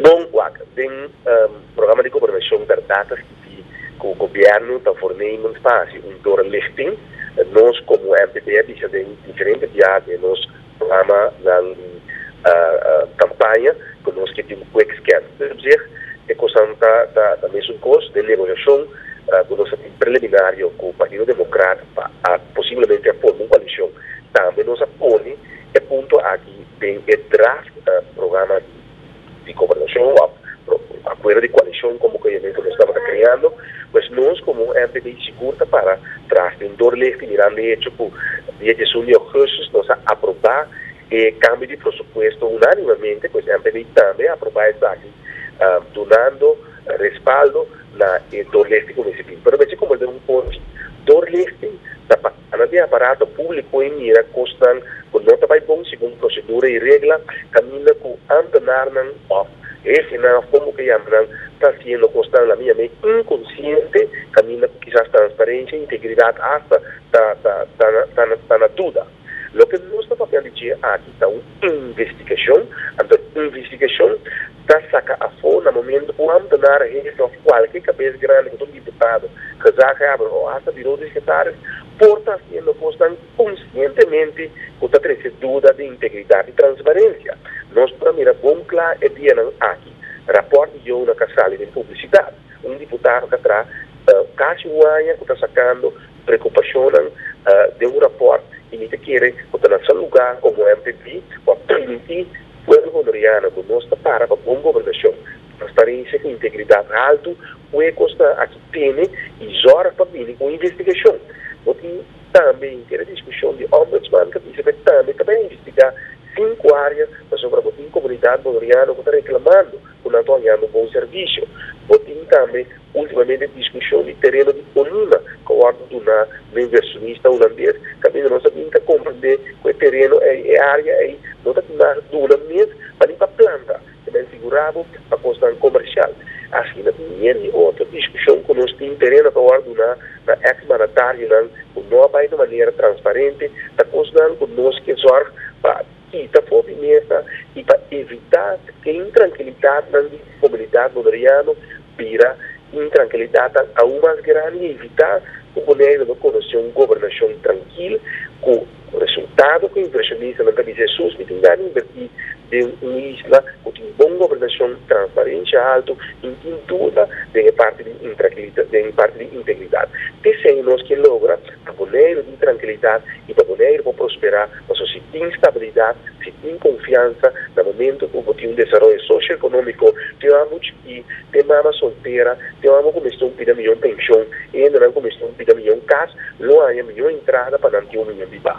Bon, wak, den programa di gobernashon berdad ta skibí ku gobièrnu ta fornee munspasi un doorlichting. Nos komo MPB a bisa den diferente biaha den nos programanan di kampaña ku nos ke tin kwik scan. Nos a obseg e kosnan ta mesun kos den negosiashon ku nos a tin preliminario ku Partido Demokrat pa posiblemente a forma un koalishon. Tambe nos a pone e punto aki. Den e draft programa di gobernashon òf akuerdo di koalishon komo ku e men ku nos tabata kreando, pues nos komo un MP di sigur ta para tras den Dorlichte mirando e echo ku dia diesun di Ougustus nos a aprobá e kambio di prosupuesto unánimamente, pues MP di tambe a aprobá esaki dunando respaldo na e Dorlichte Kuminsipio. Pero besi komo el ta un porchi Dorlichte ta. Anto di aparato públiko ei mira kosnan ku no ta bai bon segun prosedura i regla, kaminda ku ámpenarnan òf hefinan òf kon bo ke yama nan ta hasiendo kosnan lamiam'é inkonsiente kaminda ku kisas transparensia i integridat asta ta ta ta na duda. Loke nos ta papia di dje aki ta un. Investigashon, Anto investigashon ta saka afo na momento ku Amto Nara Hefe òf kualke kabes grandi ku ta un diputado, gezagheber o asta birou di sekretaris por ta hasiendo kosnan konsientemente ku ta trese duda den integridat i transparensia. Nos por a mira bon kla e dianan aki rapòrt di Youna ka sali den publisidat. Un diputado ka traha kasi un aña ku ta sakando Preocupacionnan den un rapport y mi ta kere cu ta lasa luga como MPP pa permiti pueblo Hondureño cu nos ta para pa bon gobernacion, transparencia cu integridad alto, huecos ta aki pene y zorg pa bini cu un investigacion. Bo tin tambe in kere discusion di Ombudsman ta bisa pe tambe ta bay investiga cinco area pasobra bo tin comunidad Hondureño cu ta reclamando cu nan ta oñando bon servicio. Bo tin tambe. Ultimamente diskushon di tereno di Colima ta wòrdu duná na inversionista hulandes. Kaminda nos a bin ta komprendé ku e tereno ei, e área ei, no ta tunahá duna mes pa ni pa planta, te men sigurá bo pa kosnan komershal. Asina ku mier di otro diskushon ku nos tin tereno ta wòrdu duná na eks mandatarionan ku no a bai na manera transparente, ta kosnan ku nos ke zòrg pa. Kita for di mesa y pa evita e intrankilidadnan di komunidat Boliviano bira intrankilidadnan aun mas grandi y evita cu Bonaire lo conoci un gobernacion trankil cu resultado cu inversionistanan ta bisti esun mi tin gana inverti den un isla cu tin bon gobernacion, transparencia alto y no tin duda den e parti di integridad. P'esey nos ke logra Pa bo neir di trankilidat i pa bo neir bo prosperá, pasobra si tin stabilidat, si tin konfiansa, na momentu ku bo tin un desaroyo sosioekonómiko, te mamá bo chikí, te mama soltera, te mama ku mester un pida mion penshon, e hendenan ku mester un pida mion kas, lo haña mion entrada pa nan tin un mion bibá.